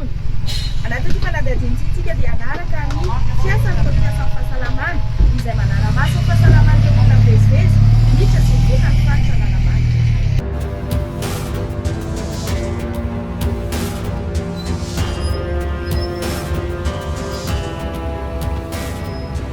Mpitondra. Anaty ity fanadihadiana ity isika dia hanaraka ny fiasan'ireo mpiasan'ny fahasalamana izay manara-maso ny fahasalaman'ireo olona mivezivezy miditra sy mivoaka ny faritra Analamanga.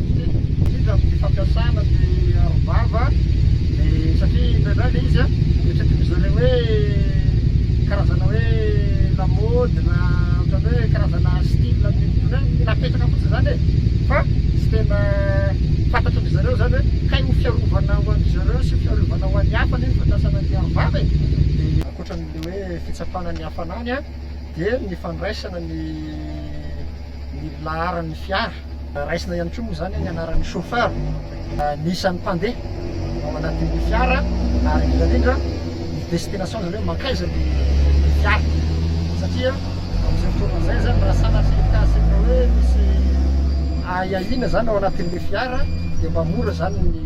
indrindra amin'ny fampiasana ny arovava satria indraindray ilay izy noeritreretry zareo hoe karazana hoe lamaody na ohatran'ny hoe karazana style ny olona hoe mila apetraka fotsiny izany e fa tsy tena fantatry ny zareo izany hoe kay ho fiarovana ho an-dry zareo sy fiarovana ho an'ny hafa anie ny fampiasana ny arovava e dia ankoatran'ilay hoe fitsapana ny hafanany dia ny fandraisana ny ny laharan'ny fiara Raisina ihany koa moa izany ny anaran'ny chauffeur, ny isan'ny mpandeha ao anatin'ny fiara ary indrindra indrindra ny destination, izany hoe mankaiza ny fiara satria amin'izay fotoana izay izany raha sanatria ny cas ohatra hoe misy ahiahiana izany ao anatin'ilay fiara dia mba mora izany ny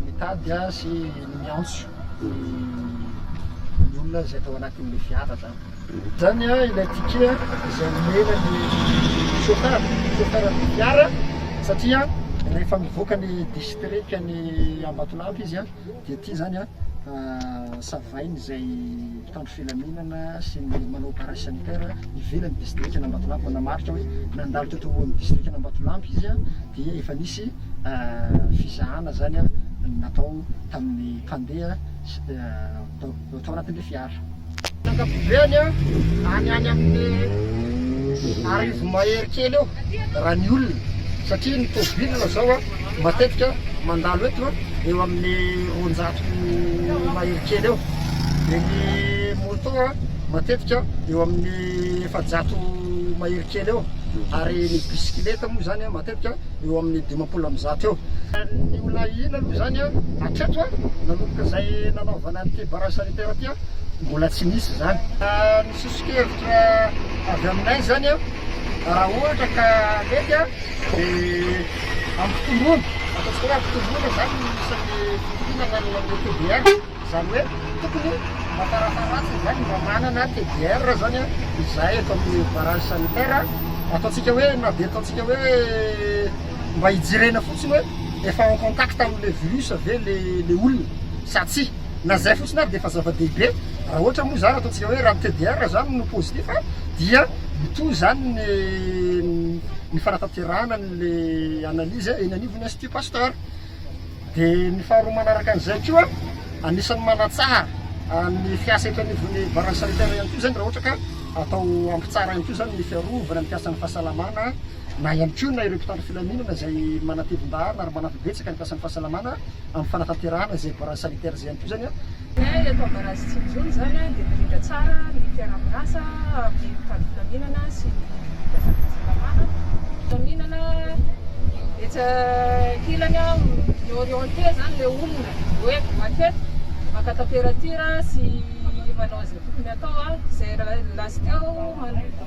mitady sy ny miantso ny olona izay tao anatin'ilay fiara izany. Izany ilay ticket izay omena ny chauffeur, chauffeur ny gare satria rehefa mivoaka ny district ny Ambatolampy izy dia ity izany savainy izay mpitandro filaminana sy ny manao barrage sanitaire ivelan'ny district ny Ambatolampy manamarika hoe nandalo teto ho amin'ny district ny Ambatolampy izy dia efa nisy fizahana izany natao tamin'ny mpandeha vao tao anatin'ilay fiara. Ny ankapobeny any any amin'ny arivo mahery kely eo raha ny olona satria ny tôbily zao matetika mandalo eto eo amin'ny roanjato mahery kely eo dia ny môtô matetika eo amin'ny efajato mahery kely eo ary ny bisikileta moa izany matetika matetika eo amin'ny dimampolo amby zato eo. Ny olona hino aloha izany hatreto nanomboka izay nanaovana an'ity barrage sanitaire ity mbola tsy nisy izany. Ny soso-kevitra avy aminay izany raha ohatra ka mety dia hampitomboana, ataontsika hoe hampitomboana izany ny isan'ny mpihinana ny TBR. Izany hoe tokony mba tarataratra izany mba manana TDR zany izahay eto amin'ny barrage sanitaire, ataontsika hoe na dia ataontsika hoe mba hijerena fotsiny hoe efa en contact amin'ilay virus ve ilay olona sa tsia, na izay fotsiny ary dia efa zava-dehibe, raha ohatra moa izany ataontsika hoe raha ny TDR izany no positif dia mitohy izany ny ny fanatanterahana an'ilay analyse eny anivon'ny Institut Pasteur. Dia ny faharoa manaraka an'izay koa, anisan'ny manatsara ny fiasa eto anivon'ny barrage sanitaire ihany koa izany raha ohatra ka atao ampy tsara ihany koa izany ny fiarovana ny mpiasan'ny fahasalamana na ihany koa na ireo mpitandro filaminana izay manatevin-daharana ary manampy betsaka ny mpiasan'ny fahasalamana amin'ny fanatanterahana izay barrage sanitaire izay ihany koa izany an. Dia eto Ambarazy Tsinjono izany dia mirindra tsara ny mpiara-miasa amin'ny mpitandro filaminana sy ny mpiasa fahasalamana. Filaminana etsy ankilany mi-orienter izany ilay olona hoe makety maka temperature sy manao izay tokony atao izay last teo.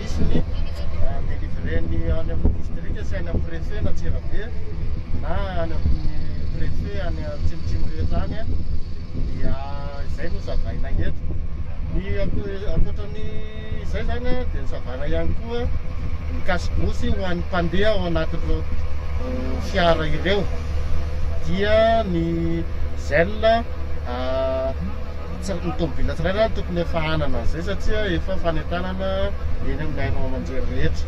hisy ny delivré ny any amin'ny distrika sy any amin'ny préfet n'Antsirabe na any amin'ny préfet any atsimotsimo rehetra any dia izay no savaina eto ny ankoatra ny izay zany dia ny savaina ihany koa ny kasibosy ho an'ny mpandeha ao anatin'ireo eh, fiara ireo dia ny zel ah, Tsy ny tomobila tsirairay no tokony efa hanana an'izay satria efa fanentanana eny amin'ny haino aman-jery rehetra.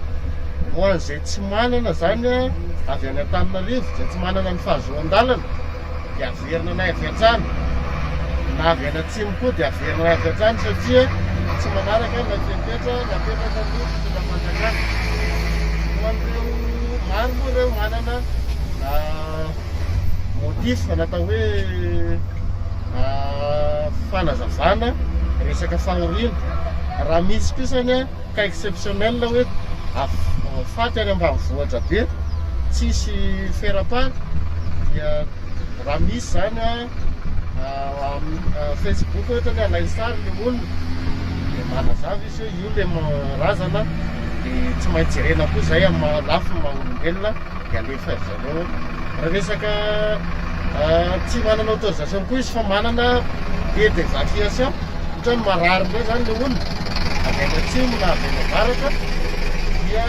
Ho an'izay tsy manana izany avy any Antananarivo, izay tsy manana ny fahazoan-dalana dia averina any avy hatrany, na avy any atsimo koa dia averina any avy hatrany satria tsy manaraka ilay fepetra napetraka ny fitondram-panjakana. Ho an'ireo maro moa ireo manana. motif na atao hoe fanazavana resaka fahoriana raha misy kosa ny cas exceptionnel hoe faty any ambanivohitra be tsisy faire part dia raha misy zany amin'ny facebook ohatra ny alainy sary le olona dia manazava izy hoe io le razana dia tsy maintsy jerena koa zay amin'ny maha lafiny maha olombelona Dia alefa ry zareo raha resaka tsy manana autorisation koa izy fa manana billet d'evacuation ohatrany marary indray zany le olona avy any atsimo na avy any avaratra dia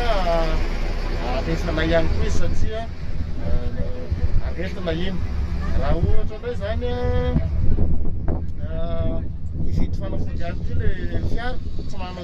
alefanay ihany koa izy satria aretina iny raha ohatra indray zany hividy fanafody ihany koa le fiara tsy manana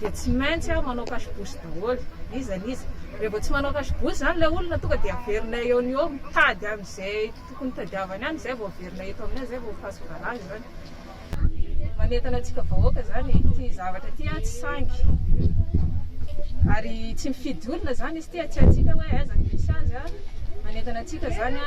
dia tsy maintsy aho manao cache-bouche daholo, iza ny iza, raha vao tsy manao cache-bouche izany ilay olona tonga dia averinay eo no eo mitady an'izay tokony tadiavany any, izay vao averina eto aminay, izay vao ho face barrage izany, manentana antsika vahoaka izany e, ity zavatra ity an tsy sangy, ary tsy mifidy olona izany izy ity, tsy haintsika hoe aiza no misy azy an, manentana antsika izany an.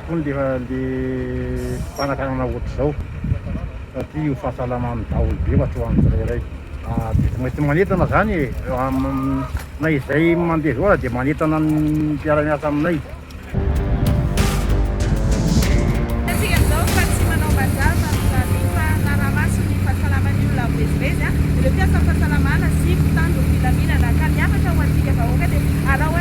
Tony dia handeha fanakanana ohatr'izao satria io fahasalamany daholo be ohatry ho an'ny tsirairay dia tsy maintsy manentana izany e na izay mandeha zao aza dia manentana ny mpiara-miasa aminay